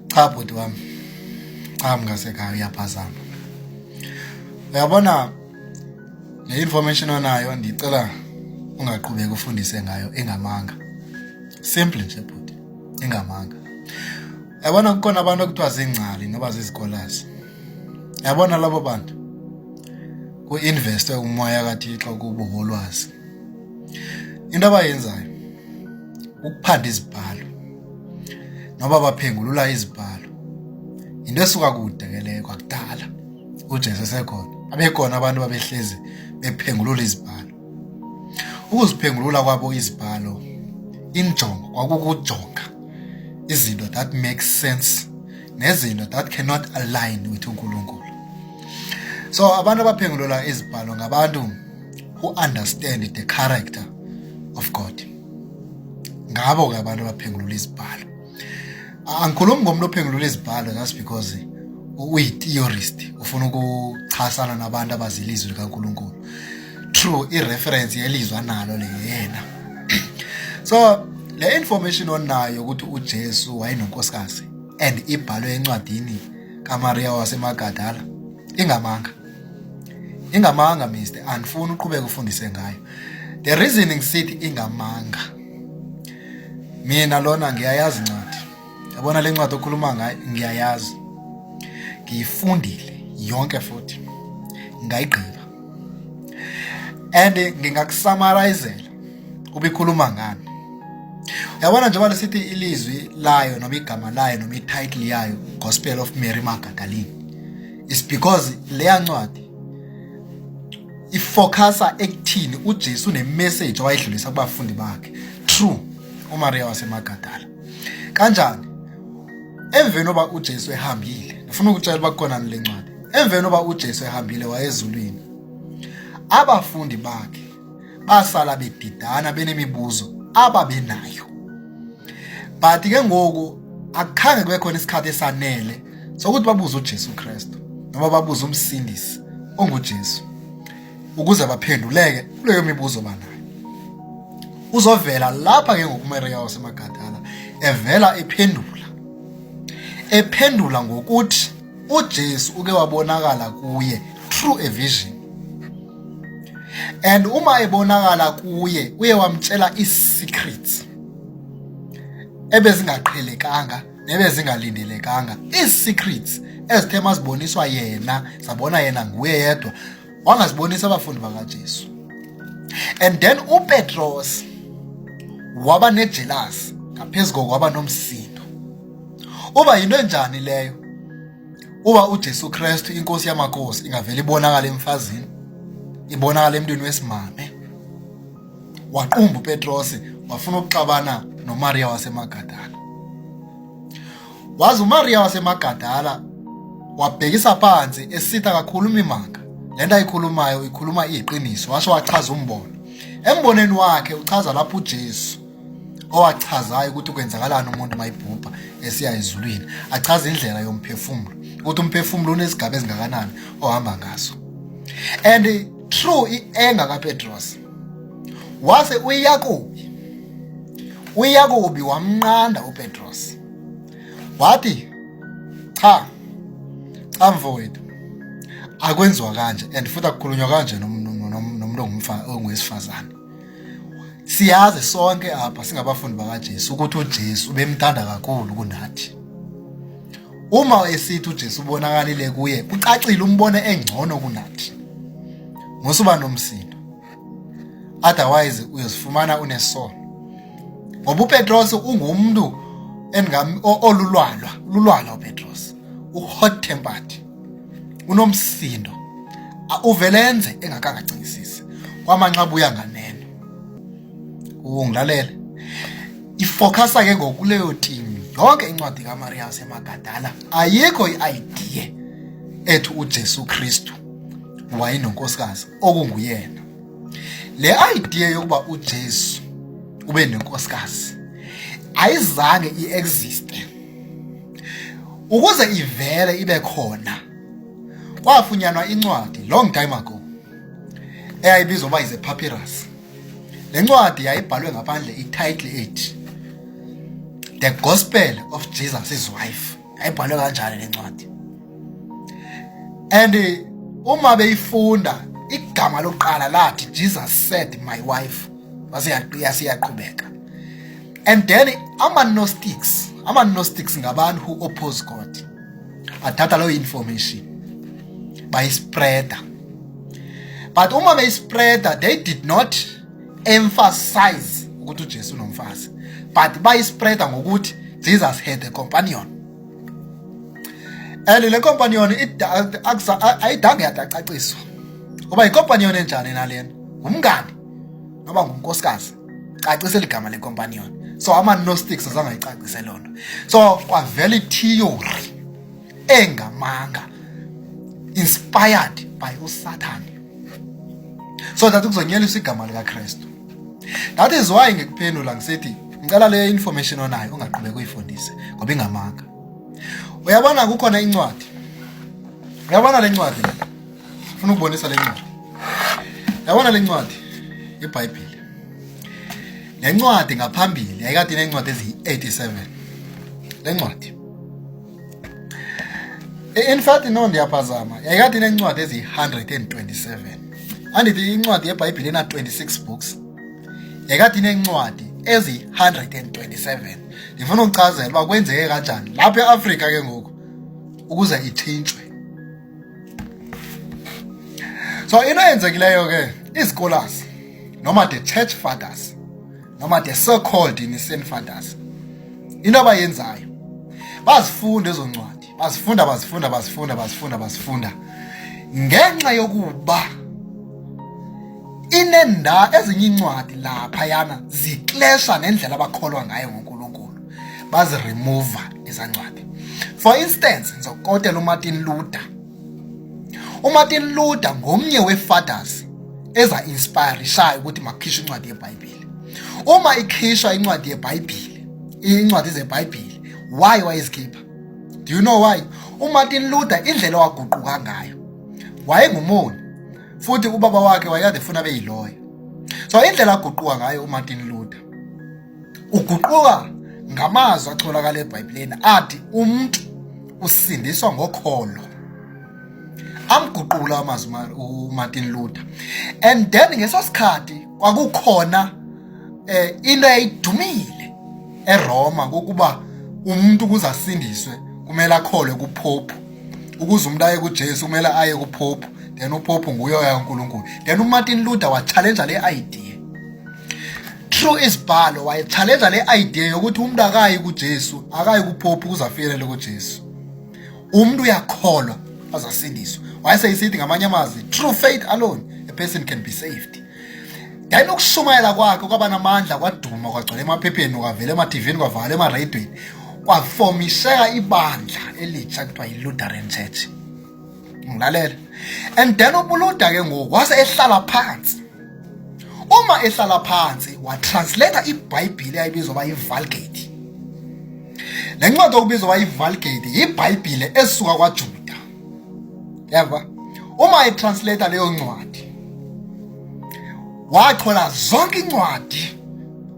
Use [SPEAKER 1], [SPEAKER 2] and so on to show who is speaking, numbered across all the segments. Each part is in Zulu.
[SPEAKER 1] Cha bhuti wami. Cha mngasekhaya uyaphazama. Uyabona le information onayo ndicela ungaqhubeki ufundise ngayo engamanga. Simple nje bhuti, engamanga. Yabona kukhona abantu okuthiwa zingcali noba zizikolazi. Yabona labo bantu ku-investwe umoya kaThixo kubo ngolwazi into abayenzayo ukuphanda izibhalo noba baphengulula izibhalo into esuka kude ke leyo kwakudala uJesu esekhona abekhona abantu babehlezi bephengulula izibhalo ukuziphengulula kwabo izibhalo injongo kwakukujonga izinto that makes sense nezinto that cannot align with uNkulunkulu so abantu abaphengulula izibhalo ngabantu who understand the character of God ngabo-ke abantu abaphengulula izibhalo angikhulumi ngomuntu ophengulula izibhalo just because uyi-theorist ufuna ukuchasana nabantu abazile izwi likankulunkulu true i-reference yelizwa nalo le yena so le information onayo ukuthi ujesu wayenonkosikazi and ibhalwe encwadini kamariya wasemagadala ingamanga ingamanga mister andifuni uqhubeka ufundise ngayo the reason ngisithi ingamanga mina lona ngiyayazi incwadi yabona le ncwadi okhuluma ngayo ngiyayazi ngiyifundile yonke futhi ngayigqiba and ngingakusamarayizela ubikhuluma ngani yabona njengoba lesithi ilizwi layo noma igama layo noma ititle yayo gospel of mary magagalini is because leya ncwadi ifocusa ekuthini uJesu nemessage owayedlulisa kubafundi bakhe true uMaria wasemagadala kanjani emveni oba uJesu ehambile ngifuna ukutshela uba kukhona le ncwadi emveni oba uJesu ehambile wayezulwini abafundi bakhe basala bedidana benemibuzo ababenayo but ke ngoku akukhange kube khona isikhathi esanele sokuthi babuze uJesu Kristu noma babuze umsindisi onguJesu ukuze baphenduleke kuleyo mibuzo banayo uzovela lapha ke ngokuMaria wasemaGadala evela ephendula ephendula ngokuthi uJesu uke wabonakala kuye through a vision and uma ebonakala kuye uye wamtshela i-secrets ebezingaqhelekanga nebezingalindelekanga ii-secrets ezithe maziboniswa yena sabona yena nguye yedwa wangazibonisa abafundi bakaJesu and then uPetros waba nejealous ngaphezulu kokwaba nomsindo uba yinto enjani leyo Uma uJesu Kristu inkosi yamakhosi ingavele ibonakala emfazini ibonakala emntwini wesimame waqumba uPetros wafuna ukuxabana noMaria waseMagadala wazi uMaria waseMagadala wabhekisa phansi esitha kakhulu imimanga lento ayikhulumayo ikhuluma iqiniso washo wachaza umbono emboneni wakhe uchaza lapho uJesu owachazayo ukuthi kwenzakalani umuntu mayibhubha esiya ezulwini achaza indlela yomphefumulo ukuthi umphefumulo unezigaba ezingakanani ohamba ngaso and true ienga kaPetros wase uyakubi uyakubi wamnqanda uPetros wathi cha cha mfowethu akwenziwa kanje and futhi akukhulunywa kanje nomuntu ongumfana ongowesifazane siyazi sonke apha singabafundi bakaJesu ukuthi uJesu ubemthanda kakhulu kunathi uma esithi uJesu ubonakalile kuye kucacile umbone engcono kunathi ngosuba nomsindo otherwise uyozifumana unesono ngoba uPetros ungumntu olulwalwa lulwalwa uPetros u hot tempered unomsindo uvelenze engakangacingisisi kwamanxa buya nganeno ungilalele ifocus ke ngokuleyo team yonke incwadi kaMaria yaseMagadala ayikho iidea ethi uJesu Kristu wayenonkosikazi okunguyena le idea yokuba uJesu ube nenkosikazi ayizange iexiste ukuze ivele ibe khona kwafunyanwa incwadi long time ago eyayibizwa uba is a papyrus le ncwadi yayibhalwe ngaphandle ititle ethi the gospel of jesus his wife yayibhalwe kanjani le ncwadi and uma beyifunda igama lokuqala lathi jesus said my wife wasiyaqhubeka and then ama-gnostics ama-gnostics ngabantu who oppose god athatha leyo information bayispreada but uma beyispreada they did not emphasize ukuthi ujesu unomfazi but bayispreada ngokuthi jesus had a companion and le companion ayidange yadacaciswa uba yinkompanion enjani nalena ngumngani noba ngunkosikazi cacisa eligama lecompanion so ama-nostics azangayicacise loo nto so kwavela ithiyori engamanga inspired by usathane so that kuzonyeliswa igama likakristu that is why ngikuphendula ngisithi ngicela leyo information onayo ungaqhubeka uyifundise ngoba ingamanga uyabona kukhona incwadi uyabona le ncwadi funa ukubonisa le ncwadi yabona le ncwadi ibhayibhile le ncwadi ngaphambili yayikade inencwadi eziyi-87 le ncwadi in fact no ndiyaphazama yayikade inencwadi eziyi-127 andithi incwadi yebhayibhile ena-26 books yayikade inencwadi eziyi-127 ndifuna ukuchazela uba kwenzeke kanjani lapha e-afrika ke ngoku ukuze ithintshwe so into eyenzekileyo ke izikolasi noma the church fathers noma the so called innocent fathers into abayenzayo bazifunda ezo ncwadi bazifunda bazifunda bazifunda bazifunda bazifunda ngenxa yokuba inenda ezinye incwadi lapha yana ziklesha nendlela abakholwa ngayo ngonkulu baziremova izancwadi for instance ngizokotela umartin luther umartin luther ngomnye wefathers eza-inspirishayo ukuthi makukhishwe incwadi yebhayibhile uma ikhishwa incwadi yebhayibhile incwadi zebhayibhile why wayezikhipha do you know why umartin luther indlela waguquka ngayo wayengumoni futhi ubaba wakhe wayekade funa beyiloya so indlela aguquka ngayo umartin luther Uguquka ngamazwi atholakala eBhayibhelini athi umuntu usindiswa ngokholo. Amguqula amazwi uMartin Luther. And then ngesosikhathi kwakukhona eh into eyidumile eRoma ukuba umuntu ukuze asindiswe kumele akholwe kuphophu ukuze umuntu aye kuJesu kumele aye kuphophu then uphophu nguye oya uNkulunkulu then uMartin Luther wa challenge le idea True isibhalo wayechallenge le idea yokuthi umuntu akayi kuJesu, akayi kuPope ukuze afikelele kuJesu. Umuntu uyakholwa azasindiswa. Wayeseyisithi ngamanye amazwi, true faith alone a person can be saved. Then ukushumayela kwakhe kwaba namandla kwaduma kwagcwala emaphepheni kwavela ema-TVini kwavala ema-radweni kwafomisheka ibandla elitsha kuthiwa yi-Lutheran Church. ngilalela and then ubuluda ke ngoku wase ehlala phansi uma ehlala phansi watranslate ibhayibhile ayibizwa uba yivulgate le ncwadi okubizwa uba yivulgate yibhayibhile esuka kwajuda yava uma etranslate leyo ncwadi wathola zonke incwadi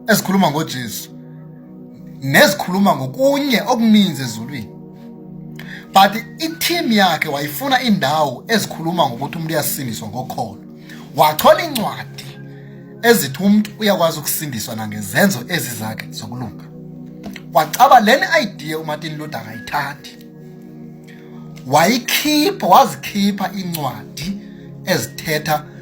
[SPEAKER 1] ezikhuluma ngojesu nezikhuluma ngokunye okuninzi ezulwini but i-team yakhe wayifuna indawo ezikhuluma ngokuthi umuntu uyasindiswa ngokholo wathola incwadi ezithi umuntu uyakwazi ukusindiswa nangezenzo ezizakhe zokulunga wacaba leni idea uMartin Luther akayithandi wayikhipha wazikhipha incwadi ezithetha